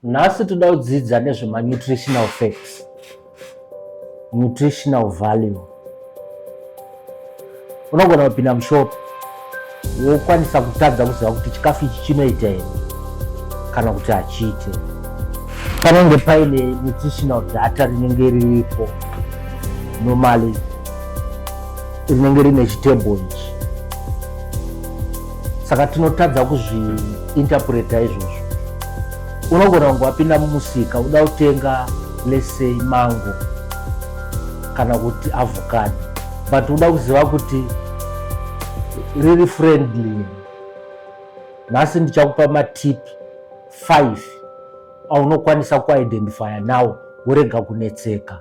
Nhasi toda kudzidza nezvemanutritional facts, nutritional value. Unogona kupinda mushopu wokwanisa kutadza kuziva kuti chikafu ichi chinoita here kana kuti hachiite. Panenge paine nutritional data rinenge riripo normally rinenge rine chitebho ichi saka tinotadza kuzviinterpreta izvozvo unogona kunge wapinda mumusika uda kutenga lesei mango kana kuti avocado but uda kuziva kuti riri friendly nhasi ndichakupa matip 5 aunokwanisa kuidentifya nawo worega kunetseka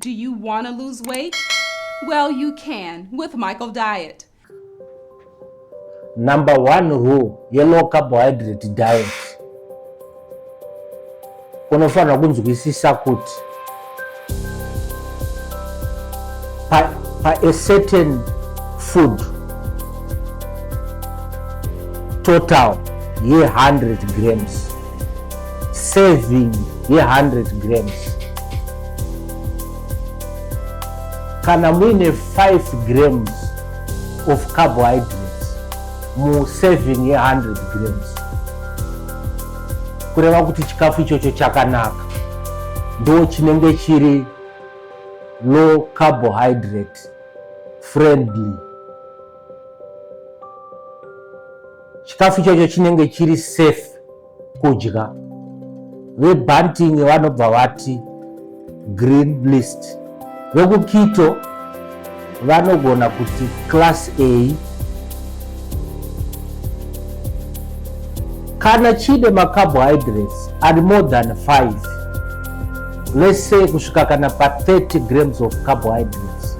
Do you want to lose weight? Well, you can with Michael Diet. Number one rule yelow carbohydrate diet unofanira kunzwisisa kuti pa, pa a certain food total ye 100 grams serving ye 100 grams kana muine 5 grams of carbohydrates mu serving ye 100 grams kureva kuti chikafu ichocho chakanaka ndo chinenge chiri low carbohydrate friendly chikafu chacho chinenge chiri safe kudya vebanting vanobva vati green list vekukito vanogona kuti class a kana chine macarbohydrates ari more than 5 let's say kusvika kana pa 30 grams of carbohydrates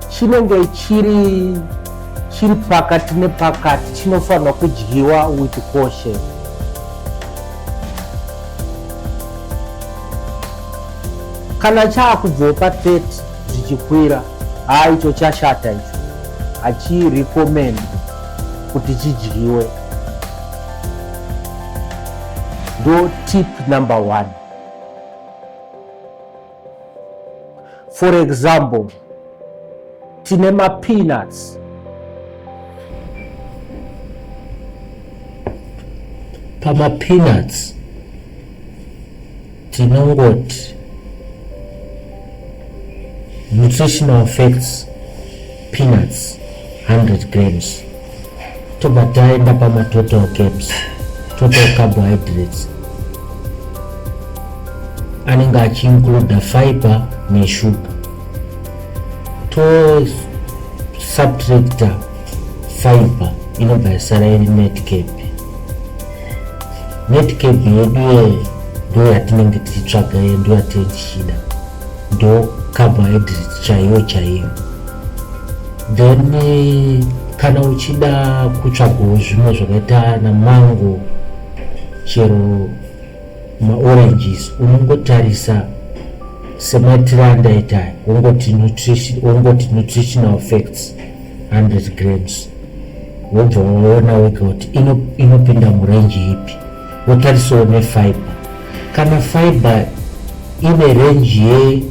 chinenge chiri chiri pakati nepakati chinofanirwa kudyiwa with caution kana chaakubvawo pa 30 zvichikwira haa icho chashata icho hachirecommend kuti chidyiwe ndo tip number one for example tine mapeanuts pamapeanuts tinongoti nutritional facts peanuts 100 grams tobva taenda pamatotal caps total carbohydrates anenge achiincluda fiber neshuga tosubtracta fiber inobva yasara iri netcap netcap yedu ye ndo yatinenge tichitsvaga ye ndo yatinenge tichida ndo carbohydrate chaiyo chaiyo then eh, kana uchida kutsvagawo zvimwe zvakaita namango chero maoranges unongotarisa semaitiro andaita wongoti nutritional facts 100 grams wobva waona wega kuti inopinda murenji ipi Wotarisawo nefiber. Kana fiber ine range ye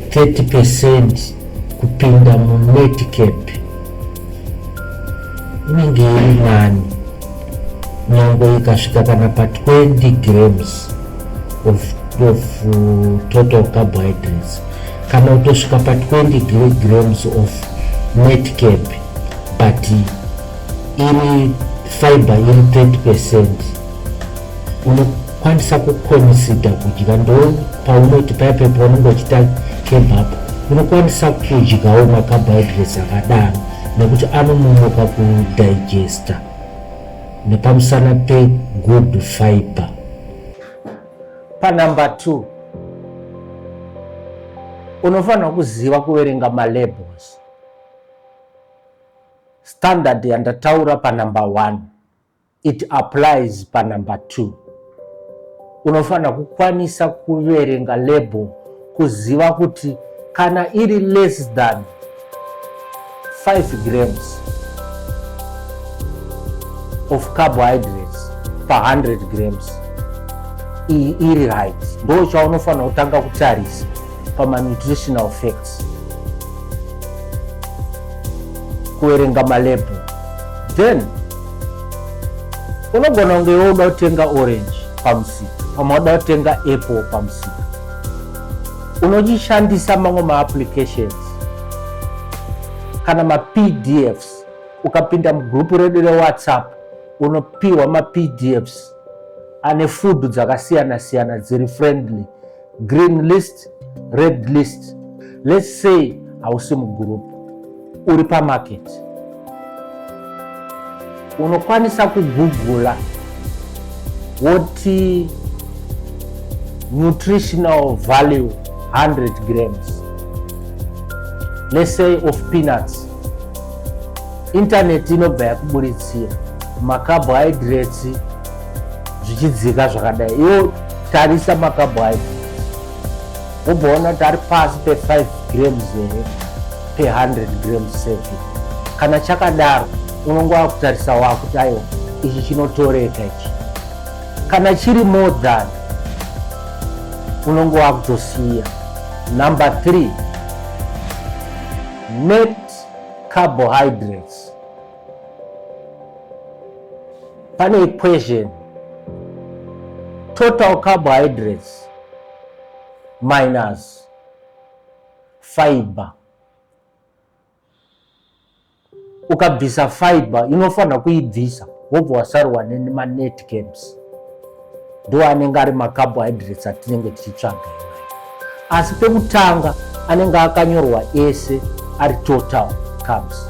30 percent kupinda munetcap inenge iri nani nyangwe ikasvika kana pa 20 grams of, of uh, total carbohydrates kana kutosvika pa 20 grams of netcap but iri fiber iri 30 percent unokwanisa kukonisida kudya ndo paunoti paya pepa unenge uchita kebapu unokwanisa kudyawo macarbohydrates akadaro nekuti anononoka kudigesta nepamusana pegood fiber panumber two unofanira kuziva kuverenga malabels Standard yandataura pa number one it applies pa number two. Unofanira kukwanisa kuverenga label kuziva kuti kana iri less than 5 grams of carbohydrates pa 100 grams iyi iri right, ndo chaunofanira kutanga kutarisa. pamanutritional facts kuverenga malebhu then unogona kunge iwe uda kutenga orange pamusika pamwe uda kutenga apple pamusika unochishandisa mamwe maapplications kana mapdfs ukapinda mugrupu redu rewhatsapp unopiwa mapdfs ane food dzakasiyana siyana dziri friendly green list red list let's say hausi mugroup uri pamarket unokwanisa kugugula woti nutritional value 100 grams let's say of peanuts intaneti inobva yakuburitsira macarbohydrates zvichidzika zvakadai iwo tarisa makabho ayo wobhoona kuti ari pasi pe5 grams here pe100 grams sefi kana chakadaro unonge wakutarisa wakuti aiwa ichi chinotoreka ichi kana chiri more than unonge wakutosiya number three net carbohydrates pane equation total carbohydrates minus fiber ukabvisa fiber inofanira kuibvisa wobva wasarwa nemanetcams ndo anenge ari macarbohydrates atinenge tichitsvaga asi pekutanga anenge akanyorwa ese ari total carbs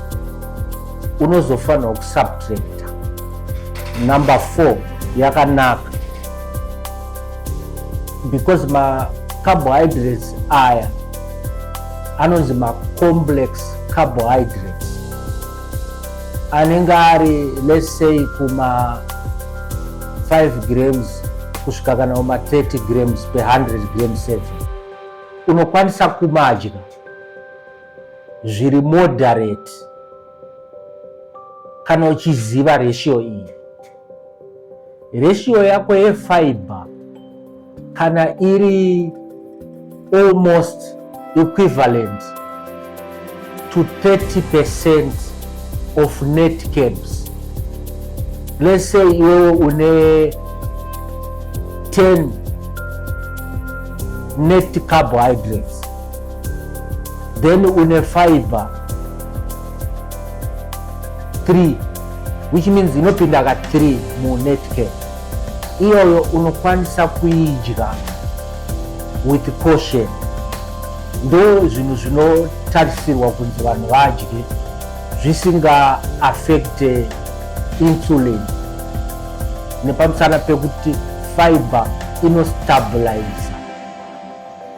unozofanirwa kusubtracta number four yakanaka because macarbohydrates aya anonzi macomplex carbohydrates anenge ari let's say kuma 5 grams kusvika kana kuma 30 grams per 100 grams sefe unokwanisa kumadya zviri moderate kana uchiziva ratio iyi Ratio yako yefiber kana iri almost equivalent to 30% of net cabs. Let's say iwewe une 10 net carbohydrates then une fiber 3 which means inopinda ka 3 munetcare iyoyo unokwanisa kuidya with caution ndo zvinhu zvinotarisirwa kunzi vanhu vadye zvisinga affect insulin nepamusana pekuti fiber inostabilize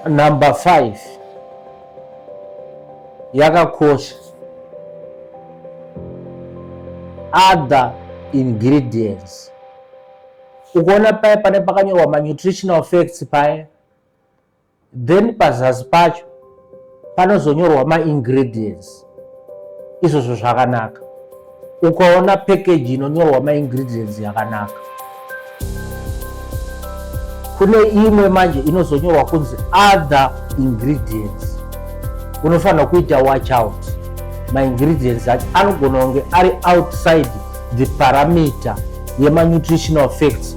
number 5 yakakosha other ingredients ukaona paya pane pakanyorwa manutritional facts paya then pazasi pacho panozonyorwa maingredients izvozvo zvakanaka ukaona package inonyorwa maingredients yakanaka kune imwe manje inozonyorwa kunzi other ingredients unofanira kuita watch out maingredients acho anogona kunge ari outside the parameter yemanutritional facts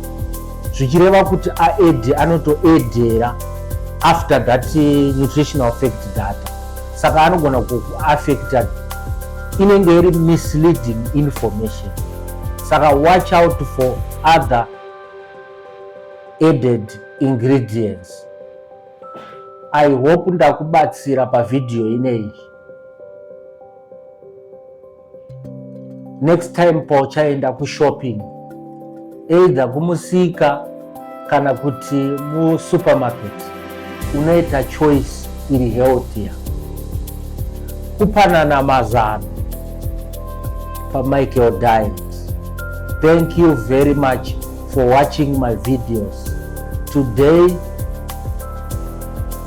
zvichireva kuti aed anotoedera after that eh, nutritional fact data saka anogona kukuaffecta inenge iri misleading information saka watch out for other added ingredients i hope ndakubatsira pavhidhiyo ineyi next time pauchaenda kushopping either kumusika kana kuti musupermarket unoita choice iri healthier kupanana mazano pamichael diet thank you very much for watching my videos today